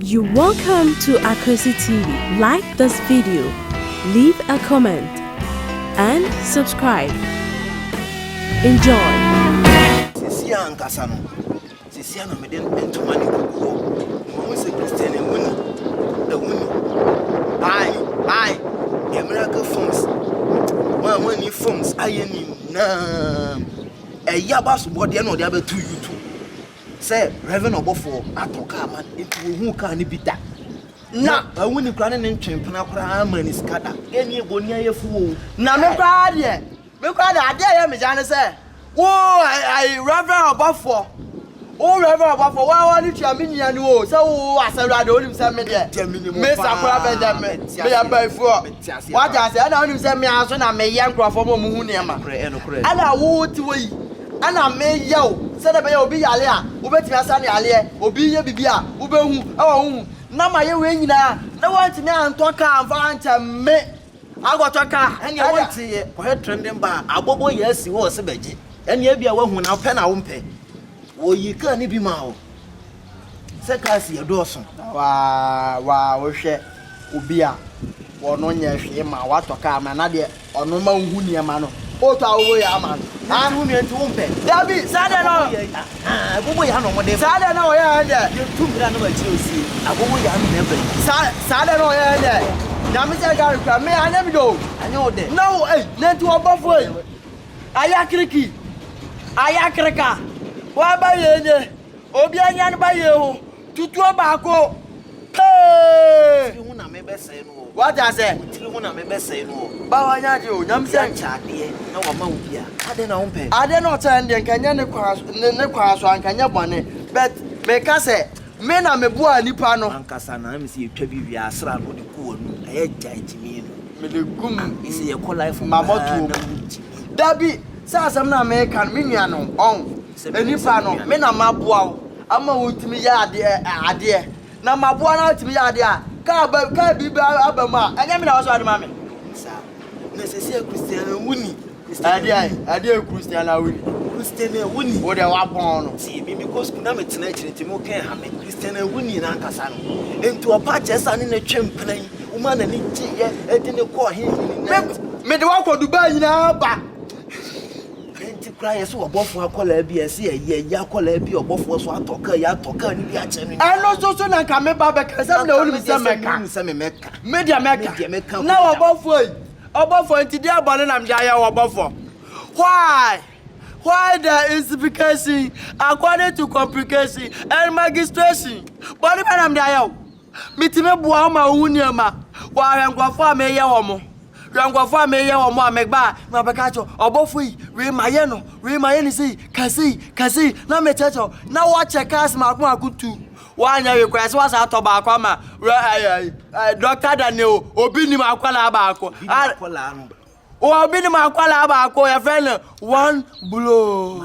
You're welcome to Akosi TV. Like this video, leave a comment, and subscribe. Enjoy! sisi a ankasa no sisi a na mede ntoma ne kuku hɔ ɔmo sɛ kristian ɛho ni ɛho ni bae bae yɛ miracle forms wɔn a wɔnni forms ayɛ ne nyinaa ɛyɛ abasobɔdeɛ na ɔde abɛto youtube sɛ Rev. Ɔbɔfoɔ atɔ kaa ma no, nti wɔhuu kaa no bi da. Na awu ne koraa ne ne ntwe mpena koraa amma ne sika da. Ɛnneɛ boniayɛfo o. Na me koraa deɛ, me koraa deɛ adeɛ a ɛyɛ me ya ne sɛ, wo ayi Rev. Ɔbɔfoɔ, wo Rev. Ɔbɔfoɔ, wo a wɔde tua me nua no o, sɛ wo wo Asɛwura deɛ wonim sɛ me deɛ, me Sakora Benjamin, meyɛ Bayifoɔ. Wate aseɛ? Ɛna wonim sɛ me ara nso na meyɛ nkorɔfoɔ ma wɔhu nneɛma. Ɛna wo te hɔ yi. Ɛna meyɛ wo sɛdeɛ ɛbɛyɛ obi yare a wobɛtumi asa no yareɛ, obi reyɛ biribi a wobɛhu wɔ wo ho, na mayɛ wei nyinaa na woantumi antɔ kaa amfa ankyɛ me akɔtɔ kaa. Ɛnneɛ wonteeɛ, kɔhwɛ trenden baa a abɔbɔ yɛ asi hɔ ɔse bɛgye, ɛnneɛ ebia woahu na wopɛ na wompɛ, wɔyii kaa no bi maa wo, Sɛ cars yɛ dɔɔso na wa wa wohwɛ obi a wɔno nyɛ hwee ma watɔ car ma na deɛ ɔno ma wohu nneɛma no ɔtɔ a wowɔ yɛ ama no. Ah, nti wo nua nti wo mpɛ. Dabi, saa deɛ na. Ah, agogo yɛ ano wɔde. Saa deɛ na wɔyɛ yɛn deɛ. Yɛ tu mbira na ma kyerɛ osie. Agogo yɛ ano na ɛbɛ. Saa saa deɛ na wɔyɛ yɛn deɛ. Nyame sɛ gari kura me anyɛ mi do. Anyɛ wo dɛ. Na wo ei, na nti wɔbɔfo ei. Ayakiriki, ayakrika, wɔaba yɛn nye. Obi anya ne ba yie ho tutuo baako pee. Tiri ho na me bɛsɛe no o. Wate aseɛ. Wo tiri ho na me bɛsɛe no o. Ba wanya adeɛ o, nyam sɛn. Obi akyɛ adeɛ na wama wo bi a, adɛn na wompɛ. Adeɛ na ɔkyɛɛ no deɛ nka nyɛ ne kwan so, ne ne kwan so a nka nyɛ bɔne but meka sɛ me na me boaa nipa no. Ankasa na mese yɛtwa bi wie a asra no wode gu w'anum ɛyɛ gyae gyimii no. Mede gu m, ah mese yɛkɔ life mu koraa na wontumi. Dabi, saa asɛm no a meka no me nua no ɔn. Sɛ me nipa no, me na maboa wo ama wotumi yɛ adeɛ, na maboa no atumi yɛ adeɛ a, kaa biribi aba mu a, ɛnyɛ me na wɔsɔ ade ma me? Na sɛsɛ Christiana wuni. Ɛdeɛ Christiana wuni? Christiana wuni. Wo deɛ wabɔn no. Tie me, me kɔ sukuu na me tena akyire nti mo kɛn ha me. Christiana wuni na ankasa no. Nti ɔpa kyɛ sa ne ne twɛn mpena yi, wo ma na ne gye yɛ, ɛde ne kɔ ɔhen yi ne nɛ. Me de wakɔ Dubai nyinaa ba. Ɛno nti koraa yɛse wɔ bɔfoɔ akwadaa bi a ɛse yɛyi ɛyi akwadaa bi a ɔbɔfoɔ so atɔ kaa yi atɔ kaa no bi akyɛ no. Ɛno nso so na nka meba bɛka sɛ na wonim sɛ mɛka. Sɛ me mɛka. Me deɛ mɛka. Na wɔ bɔfoɔ yi. Ɔbɔfoɔ nti deɛ bɔne na mede ayɛ wɔ bɔfoɔ. Why? Why the insification according to complication and magistration? Bɔne bɛ na mede ayɛ wo? Mitumi boa wo ma wuhu nneɛma wɔ awɛnkɔfo a mereyɛ wɔn, wɛnkɔfo a mereyɛ wɔn a meba a na wɔbɛka akyerɛ wo, ɔbɔfo yi, wei ma yɛ no, wei ma yɛ no sei, ka sei, ka sei, na mekyerɛkyerɛ wo, na wɔkyɛ cars mmaako mmaako tu. Woanyɛ hwee koraa sɛ woasan atɔ baako ama wɛ ɛɛ ɛɛ Dɔkta Daniel, obi nim akwadaa baako. Obi nim akwadaa no. Wɔwɔ binom akwadaa baako yɛfrɛ no one blow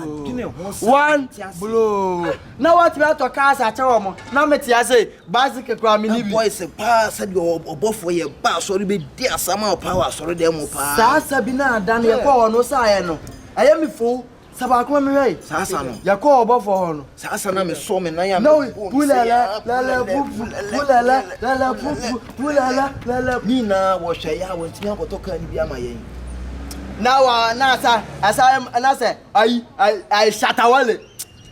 one blow na wɔtumi atɔ cars akyɛ wɔn na mete ase bicycle kura mi ni bi. boys paa sɛdeɛ ɔbɔfoɔ yɛ ba asɔre bɛdi asɛm a ɔpaa wɔ asɔre dɛm mu paa. saa sabi no ada no yɛkɔ hɔ no saeɛ no ɛyɛ me fow Sa baako ma me hwɛ yi. Saa sa no. Yɛ kɔɔ ɔbɔfoɔ hɔ no. Saa sa na me sɔ me nan a me bɔ mu. Pulala lala pupu pulala lala pupu pulala lala. Ne nyinaa wɔ hwɛ yɛ a wɔn ntumi ankɔtɔ kaa no bi ama yɛn. Na wa na sa asa na sɛ ayi ayi ayi shatawale.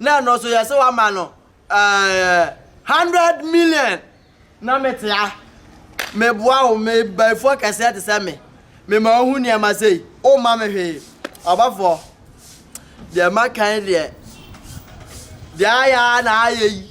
Na ɛno nso yɛse wama no hundred million. Na mete a meboa wo me bayifoɔ kɛseɛ te sɛ me mema wo ho nneɛma sei womma me hwee ɔbɔfoɔ deɛ makan deɛ deɛ ayɛ a na ayɛ yi.